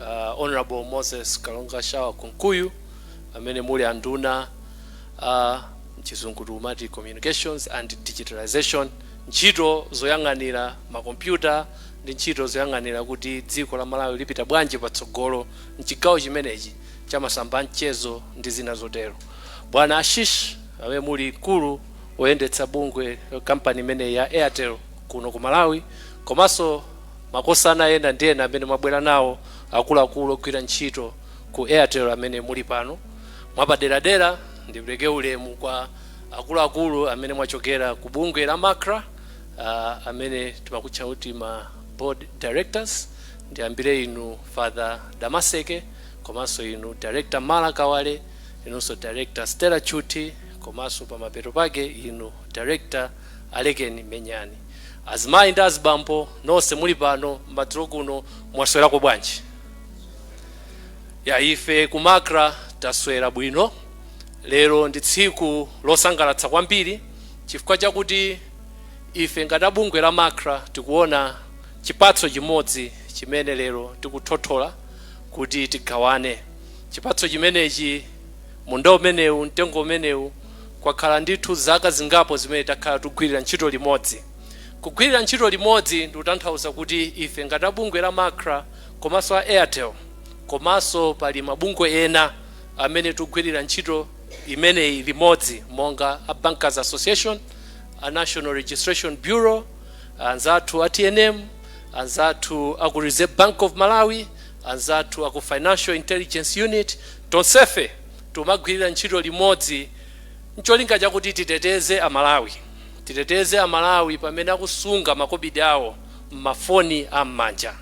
uh, Honorable Moses Kalonga Shawa Kunkuyu amene muli anduna uh, mchizungu tikumati communications and digitalization ntchito zoyang'anira makompyuta ndi ntchito zoyang'anira kuti dziko la Malawi lipita bwanji patsogolo mchigawo chimenechi cha masamba a mchezo ndi zina zotero bwana Ashish amene muli mkulu woyendetsa bungwe kampani imeneyi ya Airtel kuno ku Malawi komanso makosana ena ndi ena amene mwabwera nawo akuluakulu ogwira ntchito ku Airtel amene muli pano. Mwapaderadera ndipereke ulemu kwa akuluakulu amene mwachokera ku bungwe la Macra uh, amene timakutcha kuti ma board directors ndiyambire inu Father Damaseke komanso inu Director Malla Kawale inunso Director Stella Chuthi komanso pamapeto pake inu Director Alekeni Menyani. Azimayi ndi azibambo nonse muli pano madzulo kuno mwaswerako bwanji? Ya ife ku Macra taswera bwino. Lero ndi tsiku losangalatsa kwambiri chifukwa chakuti ife ngati a bungwe la Macra tikuona chipatso chimodzi chimene lero tikuthothola kuti tigawane. Chipatso chimenechi, munda umenewu, mtengo umenewu. Kwakhala ndithu zaka zingapo zimene takhala tikugwirira ntchito limodzi. Kugwirira ntchito limodzi ndikutanthauza kuti ife ngati a bungwe la Macra komanso a Airtel komanso pali mabungwe ena amene tikugwirira ntchito imeneyi limodzi monga a Bankers Association, a National Registration Bureau, anzathu a TNM, anzathu a ku Reserve Bank of Malawi, anzathu a ku Financial Intelligence Unit, tonsefe Tumagwirira ntchito limodzi ncholinga chakuti titeteze a Malawi. Titeteze a Malawi pamene akusunga makobidi awo m'mafoni a m'manja.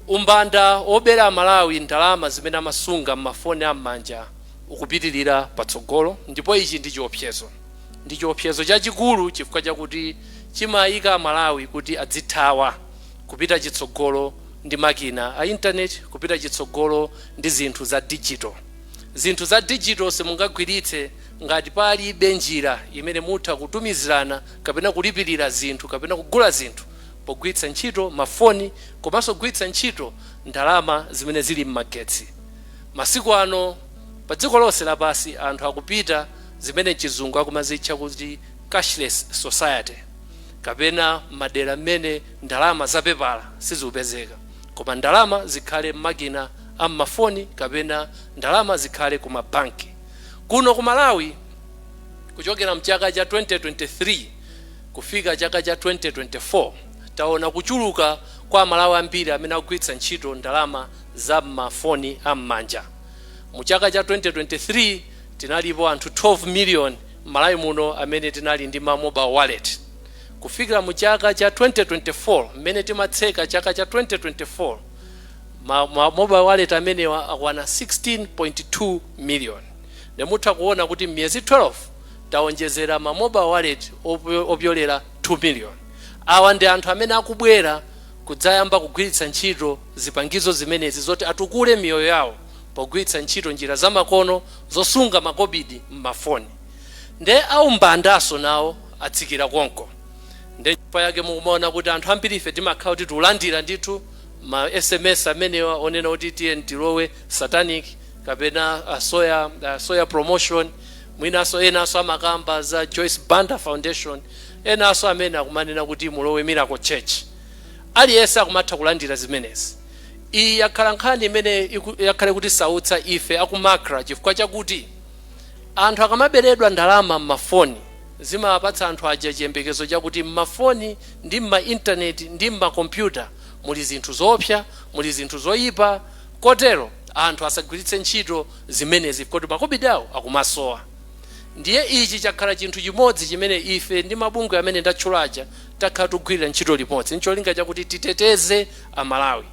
Umbanda wobera a Malawi ndalama zimene amasunga m'mafoni a m'manja ukupitirira patsogolo ndipo ichi ndi chiopsezo. Ndi chiopsezo chachikulu chifukwa chakuti chimaika a Malawi kuti adzithawa kupita chitsogolo ndi makina a intaneti, kupita chitsogolo ndi zinthu za digital. Zinthu za digital simungagwiritse ngati palibe njira imene mutha kutumizirana kapena kulipirira zinthu kapena kugula zinthu pogwiritsa ntchito mafoni komanso kugwiritsa ntchito ndalama zimene zili mmagetsi. Masiku ano padziko lonse lapansi anthu akupita zimene mchizungu akumazitcha kuti cashless society kapena madera mmene ndalama zapepala sizikupezeka. Koma ndalama zikhale mmakina a mmafoni kapena ndalama zikhale ku ma bank. Kuno ku Malawi kuchokera mchaka cha 2023 kufika chaka cha 2024 taona kuchuluka kwa amalawi ambiri amene akugwiritsa ntchito ndalama za mma foni a mmanja. Mu chaka cha 2023 tinalipo anthu 12 million mmalawi muno amene tinali ndi ma mobile wallet. Kufikira mu chaka cha 2024 mmene timatseka chaka cha 2024 ma mobile wallet amenewa akwana 16.2 million nde mutha kuona kuti mmiyezi 12 taonjezera ma mobile wallet opyolera 2 million. Awa ndi anthu amene akubwera kudzayamba kugwiritsa ntchito zipangizo zimenezi zoti atukule miyoyo yawo pogwiritsa ntchito njira zamakono zosunga makobidi mmafoni nde aumbandanso nawo atsikira konko nde chifukwa chake mukumaona kuti anthu ambirife timakhala kuti tulandira ndithu ma sms amenewa onena kuti tiyeni tilowe satanic kapena uh, soya, uh, soya promotion mwinaso enaso amakamba za joyce banda foundation enaso amene akumanena kuti mulowe miracle church aliyense akumatha kulandira zimenezi iyi yakhala nkhani imene iku- yakhala ikutisautsa ife a ku MACRA chifukwa chakuti Anthu akamaberedwa ndalama m'mafoni, zimapatsa anthu aja chiyembekezo chakuti m'mafoni ndi m'ma internet ndi m'ma kompyuta muli zinthu zoopsa, muli zinthu zoyipa kotero anthu asagwiritse ntchito zimenezi poti makobidi awo akumasowa. Ndiye ichi chakhala chinthu chimodzi chimene ife ndi mabungwe amene ndatchula aja takhala tikugwirira ntchito limodzi n'cholinga chakuti titeteze Amalawi.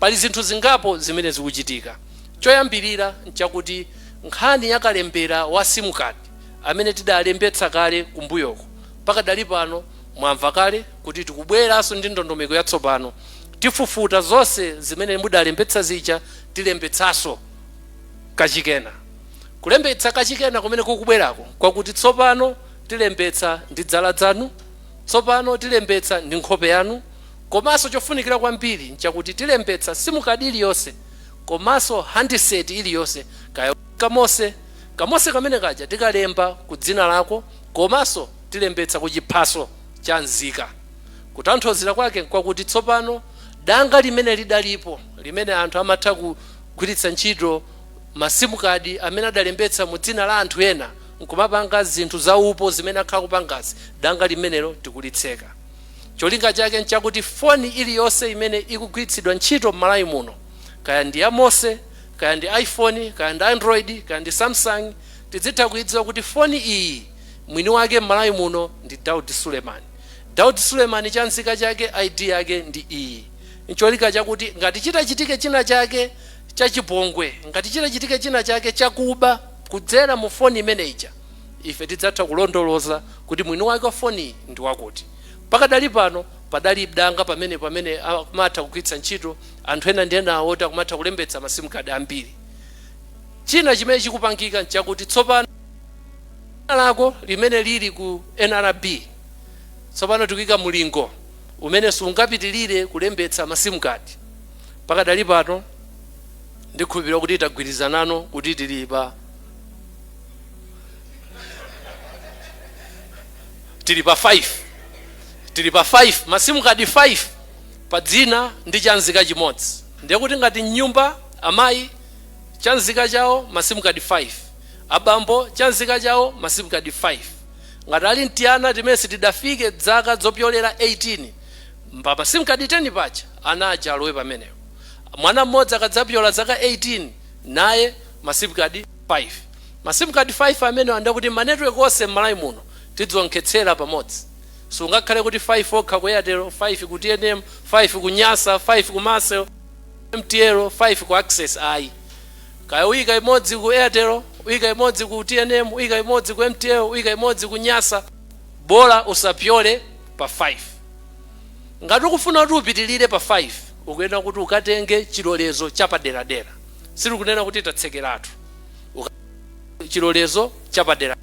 Pali zinthu zingapo zimene zikuchitika. Choyambirira n'chakuti nkhani ya kalembera wa sim card amene tidalembetsa kale kumbuyoko, pakadali pano mwamva kale kuti tikubweranso ndi ndondomeko yatsopano. Tifufuta zonse zimene mudalembetsa zija tilembetsanso kachikena. Kulembetsa kachikena kumene kukubwerako n'kwakuti tsopano tilembetsa ndi dzala dzanu, tsopano tilembetsa ndi nkhope yanu komanso chofunikira kwambiri n'chakuti tilembetsa sim card iliyonse. komaso handset iliyose kaya kamose kamose kamene kaja tikalemba ku dzina lako komaso tilembetsa ku chiphaso cha nzika kutanthauzira kwake nkwakuti tsopano danga limene lidalipo limene anthu amatha kugwiritsa ntchito ma sim card amene adalembetsa mu dzina la anthu ena nkumapanga zinthu za upo zimene akhala akupangazi danga limenelo tikulitseka Cholinga chake nchakuti foni iliyonse imene ikugwiritsidwa ntchito m'Malawi muno, kaya ndi ya Mose, kaya ndi iPhone, kaya ndi Android, kaya ndi Samsung, tidzitha kuidziwa kuti foni iyi mwini wake m'Malawi muno ndi Daud Suleman. Daud Suleman chanzika chake ID yake ndi iyi. Ncholinga chakuti ngati chitachitike china chake chachipongwe, ngati chitachitike china chake chakuba kudzera mu foni imene ija, Ife tidzatha kulondoloza kuti mwini wake wa foniyi ndi wakuti. Pakadali pano padali danga pamene pamene akumatha kugwiritsa ntchito anthu ena ndi ena oti akumatha kulembetsa ma sim card ambiri. China chimene chikupangika n'chakuti tsopano dzina lako limene lili ku nrb tsopano tikuika mulingo umene sungapitirire kulembetsa ma sim card. Pakadali pano ndikhulupirira kuti tagwirizana kuti tili pa. tili pa 5 tili pa 5 masimu kadi 5 pa dzina ndi chanzika chimodzi ndiye kuti ngati mnyumba amayi chanzika chawo masimu kadi 5 abambo chanzika chawo masimu kadi 5 ngati ali mtiyana timene sitidafike dzaka zopyolera 18 mpa masimu kadi 10 paja ana aja alowe pamenepo mwana mmodzi akadzapyola zaka 18 naye masimu kadi 5. Ma sim card 5 amenewa nde kuti ma network onse m'Malawi muno tidzionkhetsera pamodzi. Sungakhale kuti 5 okha ku Airtel, 5 ku tnm, 5 ku Nyasa, 5 ku Malcel, 5 ku MTL, 5 ku Access ayi. Kaya uyika imodzi ku Airtel, uyika imodzi ku tnm, uyika imodzi ku MTL, uyika imodzi ku Nyasa, bola usapyole pa 5. Ngati ukufuna kuti upitilire pa 5, ukuyenera kuti ukatenge chilolezo chapaderadera. sitikunena kuti tatsekeratu Uka- chilolezo chapadera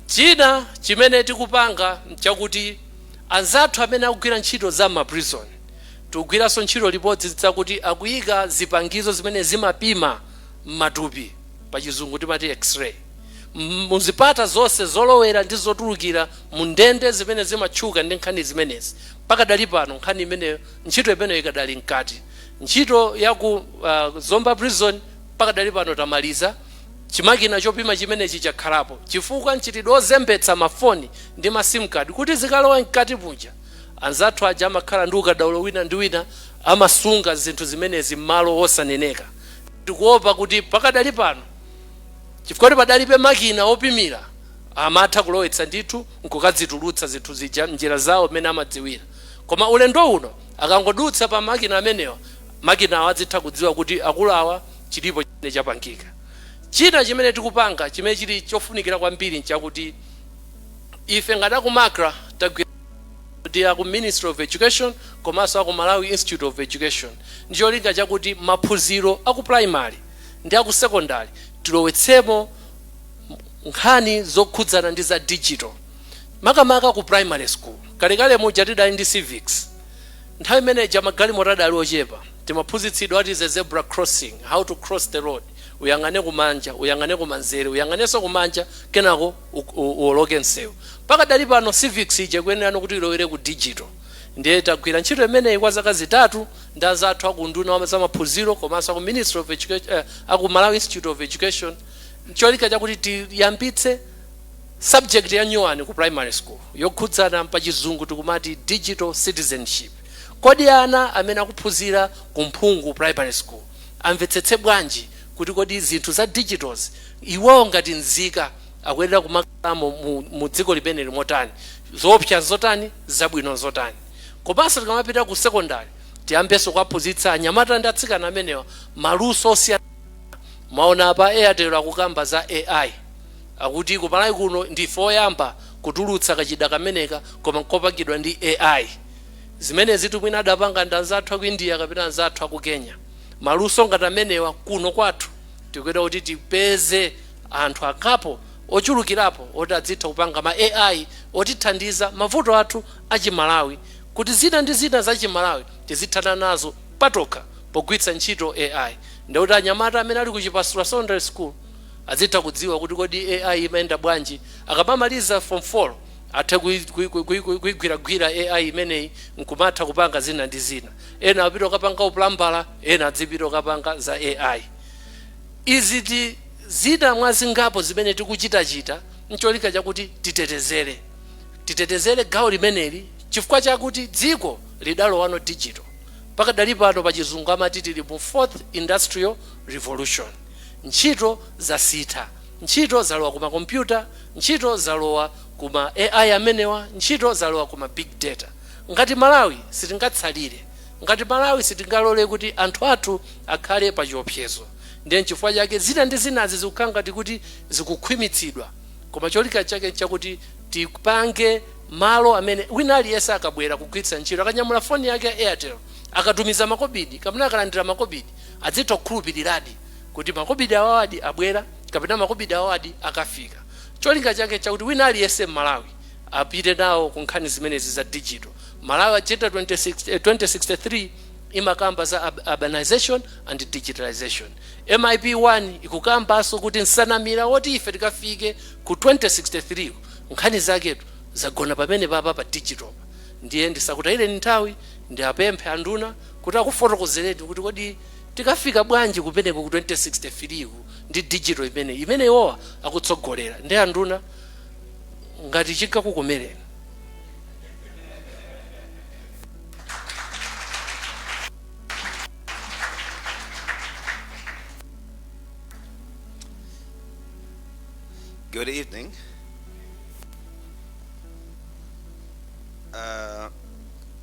china chimene tikupanga nchakuti anzathu amene akugwira ntchito za m'maprison tikugwiranso ntchito limodzi zakuti akuyika zipangizo zimene zimapima m'matupi pa chizungu timati x-ray M- muzipata zonse zolowera ndi zotulukira mu ndende zimene zimatchuka ndi nkhani zimenezi pakadali pano nkhani imeneyo ntchito imeneyo ikadali mkati Ntchito ya ku uh, Zomba Prison pakadali pano tamaliza. Chimakina chopima chimenechi chakhalapo chifukwa mchitidwe ozembetsa mafoni ndi ma sim card kuti zikalowa mkati muja, anzathu aja amakhala ndi ukadaulo wina ndi wina, amasunga zinthu zimenezi m'malo osaneneka. Tikuopa kuti pakadali pano chifukwa kuti padalibe makina opimira, amatha kulowetsa ndithu nkukadzitulutsa zinthu zija m'njira zawo mmene amadziwira. Koma ulendo uno Akangodutsa pa makina amenewa, makinawa adzitha kudziwa kuti akulu awa chilipo chimene chapangika. China chimene tikupanga chimene chili chofunikira kwambiri nchakuti ife ngati aku MACRA tagwirizana ndi aku Ministry of Education komanso aku Malawi Institute of Education ndi cholinga chakuti maphunziro aku primary ndi aku secondary tilowetsemo nkhani zokhudzana ndi za digital. makamaka ku primary school. Kalekale muja tidali ndi civics, nthawi imene ija magalimoto adali ochepa, timaphunzitsidwa what is a zebra crossing, how to cross the road, uyang'ane kumanja, uyang'ane kumanzere, uyang'anenso kumanja kenako uwoloke msewu. Pakadali pano civics ija ikuyenerano kuti ilowere ku digital. Ndiye tagwira ntchito imeneyi kwa zaka zitatu ndi anzathu aku unduna wa zamaphunziro komanso aku Ministry of Education, eh, aku Malawi Institute of Education, n'cholinga chakuti tiyambitse Subject ya nyuwani ku primary school yokhudzana pa chizungu tikumati Digital Citizenship. Kodi ana amene akuphunzira ku Mphungu primary school amvetsetse bwanji kuti kodi zinthu za digital'zi iwowo ngati nzika akuyenera kumakhalamo mu dziko limeneli motani? Zoopsa nzotani? Zabwino nzotani? Komanso tikamapita ku secondary tiyambenso kuwaphunzitsa anyamata ndi atsikana amenewa maluso osiyanasiyana. Mwaona apa Airtel akukamba za AI. Akuti ku Malawi kuno ndife oyamba kutulutsa kachida kameneka koma nkopangidwa ndi AI. Zimenezitu mwina adapanga ndi anzathu aku India kapena anzathu aku Kenya. Maluso ngati amenewa kuno kwathu tikuyenera kuti tipeze anthu akapo ochulukirapo oti adzitha kupanga ma AI otithandiza mavuto athu a chi Malawi kuti zina ndi zina za chi Malawi tizithana nazo patokha pogwiritsa ntchito AI. Ndekuti anyamata amene ali ku Chipasula Secondary School Azitha kudziwa kuti kodi AI imayenda bwanji. Akamamaliza form 4 athe kuigwiragwira AI imeneyi nkumatha kupanga zina ndi zina. Ena apite kukapanga upulambala, ena adzipita kukapanga za AI. Izi ndi zina mwa zingapo zimene tikuchitachita ncholinga chakuti titetezere gawo limeneli chifukwa chakuti dziko lidalowano digital. Pakadali pano pachizungu amati tili mu Fourth Industrial Revolution. Ntchito zasintha. Ntchito zalowa ku ma computer, ntchito zalowa ku ma AI amenewa, ntchito zalowa ku ma big data. Ngati Malawi sitingatsalire. Ngati Malawi sitingalole kuti anthu athu akhale pa chiopsezo. Ndiye nchifukwa chake zina ndi zinazi zikukhala ngati kuti zikukhwimitsidwa. Koma cholinga chake nchakuti tipange malo amene wina aliyense akabwera kugwiritsa ntchito, akanyamula foni yake ya Airtel, akatumiza makobidi kapena akalandira makobidi, adzitha kukhulupiriradi kuti makobidi awawadi abwera kapena makobidi awawadi akafika. Cholinga chake nchakuti wina aliyense m'Malawi apite nawo ku nkhani zimenezi za dijito. Malawi Agenda 2063 imakamba za urbanization and digitalization. MIP 1 ikukambanso kuti nsanamira zoti ife tikafike ku 2063 nkhani zaketu zagona pamene papa pa dijitopa. Ndiye ndisakutayireni nthawi, ndiwapemphe anduna kuti akufotokozereni kuti kodi tikafika bwanji kumeneko ku 2063 ku ndi digital imeneyi imene iwowa akutsogolera ndi anduna ngati chikakukomereni Good evening. Uh,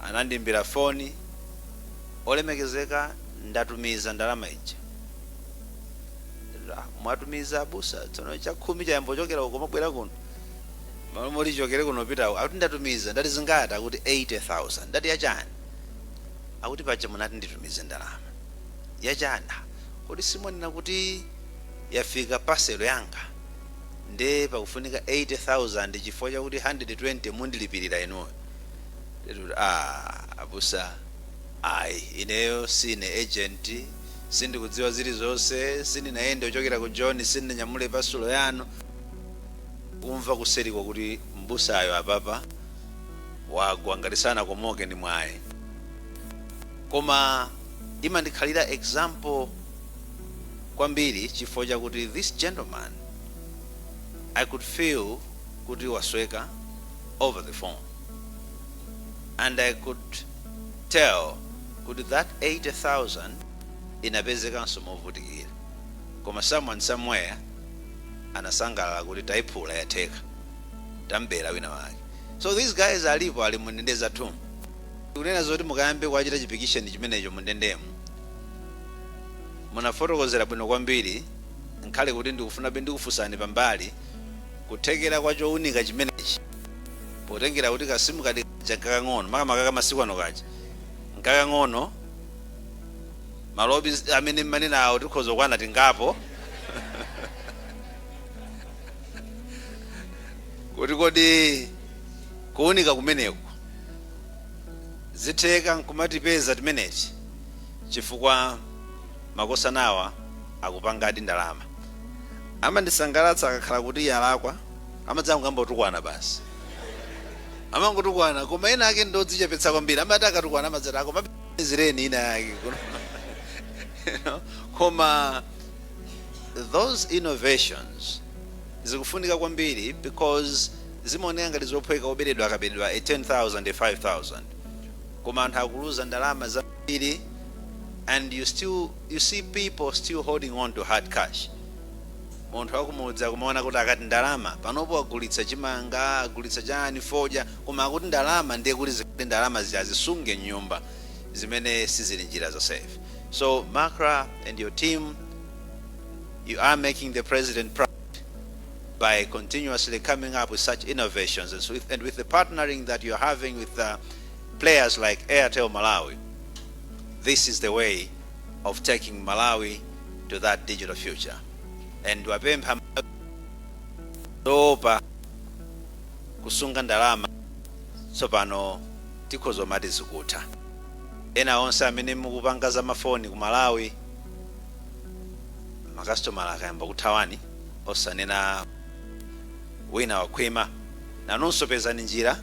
Anandiimbira foni, Olemekezeka ndatumiza ndalama ija. Ah, mwatumiza abusa, tsono chakhumi chayamba kuchokera uko kumabwera kuno. Malo moti chichokere kuno kupita uko. Akuti ndatumiza, ndati zingati? Akuti 80,000. Ndati yachani? Akuti paja munati nditumize ndalama. Yachani? Ah, Kodi simumanena kuti yafika paselo yanga? nde pakufunika 80,000 chifukwa chakuti 120 mundilipirira inuyo nde tikuti aah abusa ayi ineyo sindine agent sindikudziwa zilizonse sindinayende kuchokera ku joni sindinanyamule pasulo yanu kumva kuseriko kuti m'busayo apapa wagwa ngati sanakomoke ndi mwayi koma imandikhalira example kwambiri chifukwa chakuti this gentleman I could feel kuti wasweka over the phone and I could tell kuti that 80,000 inapezekanso movutikira koma someone somewhere anasangalala kuti taiphula yatheka tambera wina wake so these guys alipo ali mundende zathumu kunena zoti mukayambe kuwachita chipikisheni chimenecho mundendemu Munafotokozera bwino kwambiri nkhale kuti ndikufunabe ndikufunsani pambali kuthekera kwa chounika chimenechi potengera kuti ka sim card kaja nkakang'ono makamaka ka masiku ano kaja nkakang'ono malobe amene mumanena awo tikhoza kukwana tingapo kuti kodi kuunika kumeneku zitheka nkumatipeza timeneti chifukwa makosanawa akupangadi ndalama. Amandisangalatsa akakhala kuti yalakwa amadzangomutukwana basi amangotukwana koma ena ake ndodzichepetsa kwambiri amati akatukwana amadzati akapezereni ina yake koma those innovations zikufunika kwambiri because zimaoneka ngati zophweka oberedwa akaberedwa a 10000 a 5000 koma anthu akuluza ndalama zambiri and you see people still holding on to hard cash munthu wakumudzi akumaona kuti akati ndalama panopo agulitsa chimanga agulitsa chani fodya koma akuti ndalama ndiye kuti zikuti ndalama azisunge m'nyumba zimene sizili njira za safe so macra and your team you are making the president proud by continuously coming up with such innovations and with the partnering that you're having with uh, players like Airtel Malawi, this is the way of taking Malawi to that digital future. And wapempha zoopa kusunga ndalama tsopano tikhoza kumati zikutha ena onse amene mukupanga za mafoni ku malawi makasitomala akayamba kuthawani osanena wina wakhwima nanunso pezani njira